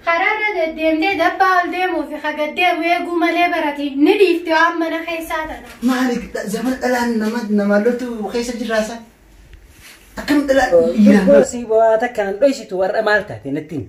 Karaarra deddeemtee dabbaa ol deemuu fi ka gad deemu eeguu malee barati ni dhiifti waan mana keessaa tana. Maali zamana dhalaan nama namaa loltu keessa jirraasa. Akkam dhalaan dhiiraan Tokko si boo'aa takka an dhoysitu warra maal taate natti himi.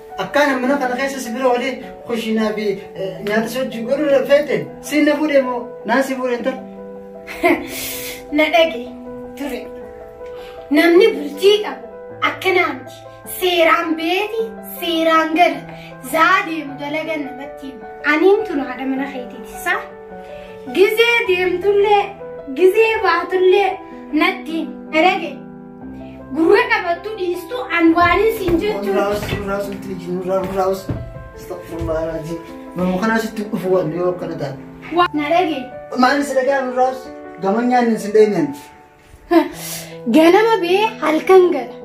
Akkaana mana kana keessa si bira olee kushiinaa fi nyaata si wajjin godhuu feete siin na fuudhee moo naan si fuudhee intal. Na dhage ture. Namni bultii qabu akkanaa miti. Seeraan beeti, seeraan gala. Zaa deemu dalagan namatti hima. Aniin tun haadha mana keetiiti isaa. Gizee deemtullee, gizee baatullee natti hima. Na dhage. Gurra qabattu dhiistu an waanii siin jechuun. Nurraa'us nurraa'us itti iji nurraa nurraa'us astagfirullah raajii nama kanaa sitti dhufu waan yoo akkana taate. Na dhage. Maal si dhagaa nurraa'us gaman nyaanni sin dheenyaan. Ganama bee halkan gala.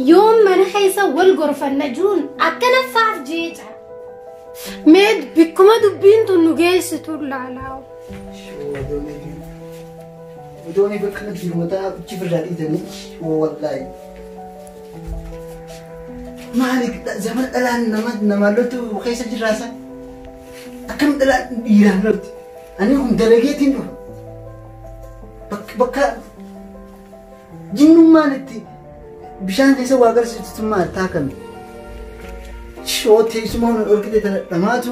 Yoon mana keessa wal gorfanna jiruun akkana faaf jeeca. Mee bikkuma dubbiin tun nu geessitu laalaa. Shoo adoonii. Odooni bakka qabsiiru mataa achi firraa dhiitanii woo wallaahi. Maali zaman dhalaan nama namaa loltu keessa jirraasa. Akkam dhalaan dhiiraan lolti. Ani kun dalageetiin dhufa. Bakka bakka jinnummaan itti bishaan keessa waa garsiistu maal taa kami. Shoo teessumaa nu dhorkite tana dhamaatu.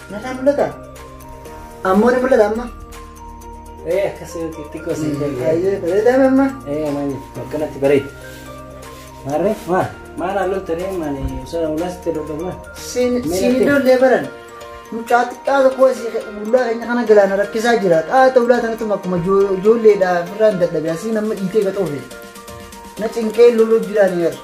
Nagaa mul'ata? Ammoo ni mul'ata amma? Ee akkas xiqqoo si Baay'ee bareedaa amma? Ee maali akkanatti bareeda. Maarree maal maal haalluun tanee maali osoo ulas itti dhodhofna. Siin siin ijoollee baran mucaa xiqqaa tokko asii ulaa keenya kana galaana rakkisaa jira. Qaata ulaa tanatu akkuma ijoolleedha birraan dadhabe asii nama dhiitee gaxoofe. Na cinqee loluu jiraan yeroo.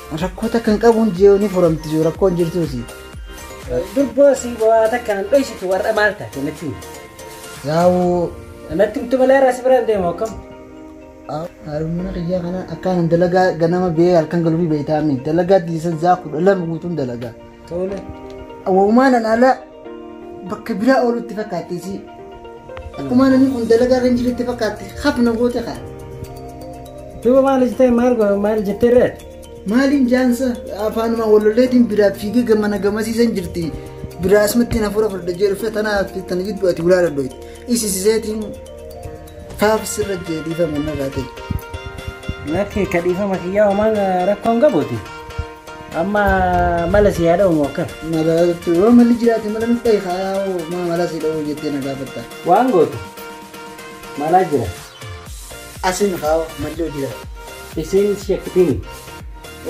Rakkoo takka hin qabuun jiyoo ni furamti jiyoo rakkoo hin jirtuusi. Durboo si waa takka nan dhoysitu warra maal taate natti himi. Yaa'uu Natti himtu malee irraa si biraan deemu akkam? harumina kiyyaa kana akkaanan dalagaa ganama bee halkan galuu beeytaami dalagaa diisan zaa kudha lama guutuun dalagaa. Tole. Awwaumaa nan ala bakka biraa oolu itti fakkaatte isii. Akkuma namni kun dalagaa irra hin jirre itti fakkaatte hafna goote kaa. Duuba maal jettee maal go- maal jettee ree? Maaliin jaansa afaanuma walolleetiin biraa fiigee gamana gamasiisan jirti. Biraa asumatti na fuura fudhadha jee dhufe tana hafte tana jidduu ati ulaa dhadhoite. Isisiseetiin faaf sirra jee dhiifama narraa ta'e. Lakki ka dhiifama kiyyaa homaan rakkoon qabuuti. Amma mala si haa dha'u moo akkam? Mala yoo malli jiraate mala nuf dhahi kaa yaa hoo maa mala si dha'uu jettee na gaafatta. Waan gootu malaa jira. Asin kaa hoo malli hoo jira. Isiin si shakkitiini.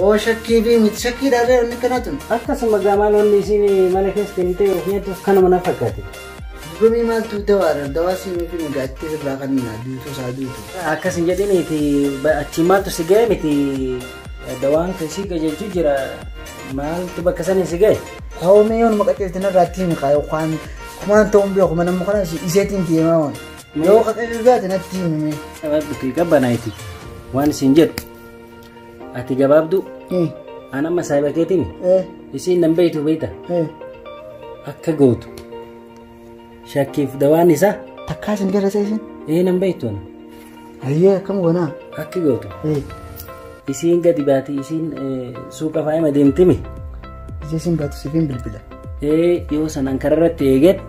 Oo shakkii fi miti shakkii dhaarree wanni akkanaa tun. Akkasuma gaa maal wanni isiin mana keessa kennitee ofii hattus kanuma na fakkaate. Gomii maaltu dawaadha dawaa siin ofii nu gaatti irraa kan duutu isaa duutu. Akkas hin jedhiniiti achi maaltu si ga'e miti Dawaan kan si qajeelchu jira maaltu bakka sana si ga'e? Kaawwamee yoon maqaceelti narraatti himi kaayoo waan kumaan ta'uun beeku mana amma kanas iseetiin deemaa waan. Yoo qaqqabeef gaate natti himi. Gabaabduuti gabbanaayiti waan isin jedhu ati gabaabduu an amma saayiba keetiin isiin nan beeytu beeyta akka gootu Shakkiif dawaan isaa? Takkaa isin garasee isin? Ee nan beektuun. Hayyee akkam goonaa? Akki gootu. Isiin gadi baati isiin suuqa faayima deemtimi. Ija isin baatu sifiin bilbila. Ee yoo sanaan kararratti eeget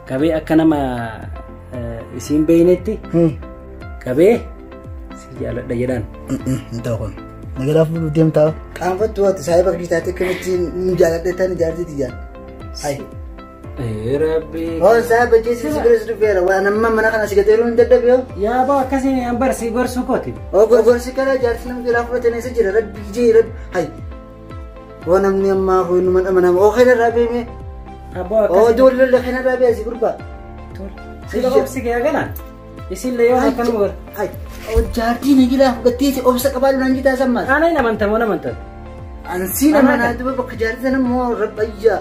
qabee akka nama isiin beeynetti qabee si jaaladha jedhaan. Hin ta'u kun. Magaalaa fuudhuu deemtaa. Qaanfattu waati saayiba kiristaatee akkamitti nu jaaladhe tan ijaarsiiti jaalladha. Ayi. Rabbi. Hoon isaa bajjeessi si biras dhufeera waan amma mana kana si gateeruu hin dadhabe hoo. Yaa boo akkasiin an barsi gorsuu kooti. Hoo gorgorsi kana jaarsi namni jalaa fudhatan eessa jira rabbi jee rabbi ayi. Hoo namni ammaa hoo inuma dhama nama hoo kana irraa beemee Abboo hoo akkasiin. ijoollee kana irraa beesi gurbaa. Sila obsi kee agaraan. Isin le yoo akkan war. Hojjaatii na jira batteeti obsa qabaa lulaan jitaa sammaa. Ana hin amantan moo amantan. Ansii nama naa duba bakka jaartii sana moo rabbayyaa.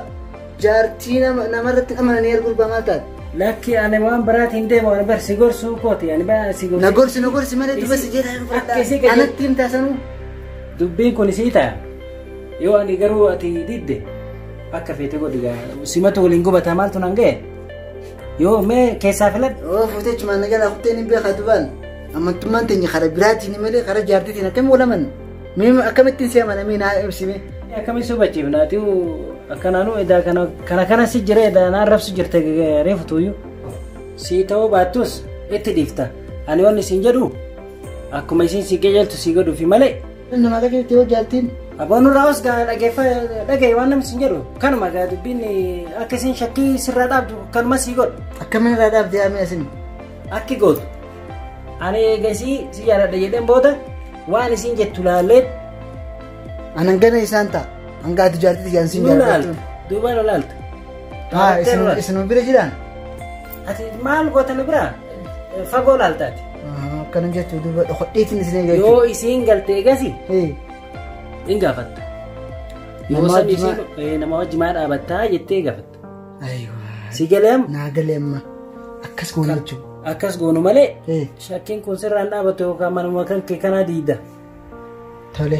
Jaartii namarratti amananii arguu bamaa taate. Lakki ani waan biraati hin deemu ani bar si gorsuu kooti ani ba si gorsi. Na gorsi na gorsi malee duba si jedhaa Akka isii gadi- Anatti hin taasanuu. Dubbiin kun isii ta'a. Yoo ani garuu ati didde akka feete godhi gaa. Simatu waliin gubataa maaltu nan ga'e? Yoo mee keessaa filadhu. Oo fuutee cumaan na jalaa kuttee ni beekaa dubaan. Amantummaan teenya karaa biraatiin malee karaa jaartiitiin akkamiin wal amanna? Mee akkamittiin si amana mee naa ibsime. Akkamiin si hubachiifna ati akkanaanuu edaa kana kana kana si jira edaa naan rabsu jirte reefu tuuyyu. Si ta'uu baattus itti dhiifta. Ani waan isin jedhu akkuma isin si qajeeltu si godhuufi malee Nama akka jirti yoo jaartiin. Abboon irraa os gaa dhageeffa dhagaye waan namni sin jedhu kanuma gaa dubbiin akka isin shakkii sirraa dhaabdu kanuma sii godhu. Akkamiin irraa dhaabdee yaamee asin. Akki gootu. Ani eegasii si jaaladha jedheen booda waan isin jettu laallee. Anan gana isaan ta'a. Hanga ati jaartii ijaan sin jaaladha. Duuba laaltu. Haa isin bira jiraan. Ati maal goota na biraa? Fagoo laaltaati. Akkana jettu duuba dhokodheetiin isin eegaa Yoo jechuudha. isiin galtee gasi Ee, in gaafatta. Nama Yoo san wajji isiin maa- eh, nama wajji maa dhaabattaa jettee gaafatta. Ayiwaa. Si galeem Naa galee amma. Akkas goona jechuudha. akkas goonu malee Ee, shakkiin kun sirraan dhaabatu yookaan manuma kan kee kanaa diida. tole.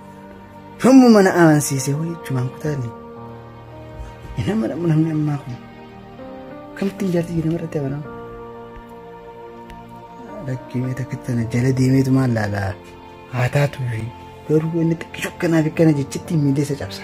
Yommuu mana amansiisee wayii jechumaan kutaani. Hin amanamu namni ammaa kun. Akkamitti ijaarti jedhama irratti amanamu? Lakkimee takka tana jala deemeetu maal laala? Haa taatu fi garuu inni xiqqishu akkanaa fi akkana jechitti miillee isa cabsa.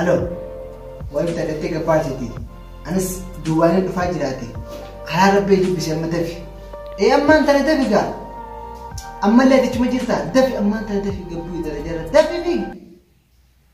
Aloo, waan itti adeemtee gabbaa jeeti. Anis duwwaaleen dhufaa jiraate. Karaa rabbee dubbise amma dafi. Ee ammaan tana dafi gaa. Ammallee adichuma jirta. Dafi ammaan tana dafi gabbuu darajarra. Dafi fi.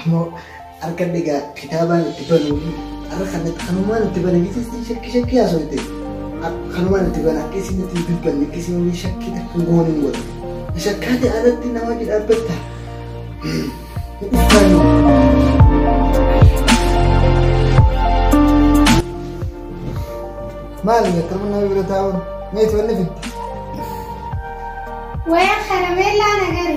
Ammoo harka dhigaa kitaabaan itti banuu fi harka kan kanumaan itti bana jechuun shakki shakki haasofte. Kanumaan itti bana akka isin itti dubbanne akka isin waliin shakkii takka hin goone hin godhu. Shakkaa ta'e alatti nama wajji dhaabbatta. Maali akkam nama bira taa'uun meeti wanni fidde. Waya karameellaa nagari.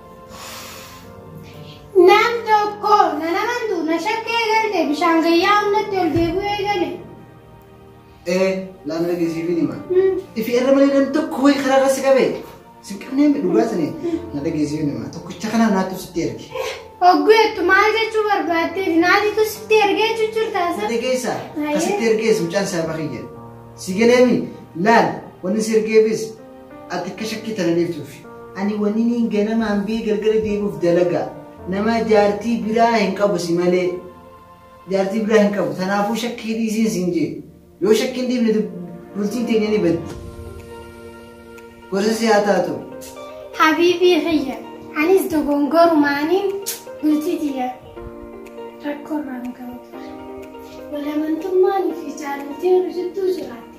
Nam tokko na namantu na shakkee galte bishaan gayyaa hundatti ol deebi'ee gale. Ee laala dhageessiif hin hima. Ifi irra malee nam tokko wayi karaa irra si qabe. Si qabnee mi dhugaa sani na dhageessiif hin hima. Tokkicha kana naatu sitti erge. Ogguu jettu maal jechuu barbaadde naatitu sitti ergee cuccurtaa Na sana. dhageessa. Ka sitti ergees mucaan isaa bakii jedhe. Si galeemi laal wanni si ergeefis Ati akka shakkii tana dheeftuufi. Ani waniniin ganamaan bee galgala deebi'uuf dalagaa. Nama jaartii biraa hin qabu si malee. Jaartii biraa hin qabu. Tanaafuu shakkii dhiisiin siin jee. Yoo shakkii hin dhiifne dub- bultiin teenya ni baddi. Gorsa si haa taatu. Habiibii kiyya anis dogongorumaaniin bultii tiyya rakkoorraan ga'u ture. Walamantummaan fi jaalaltiin hojjettuu jiraatti.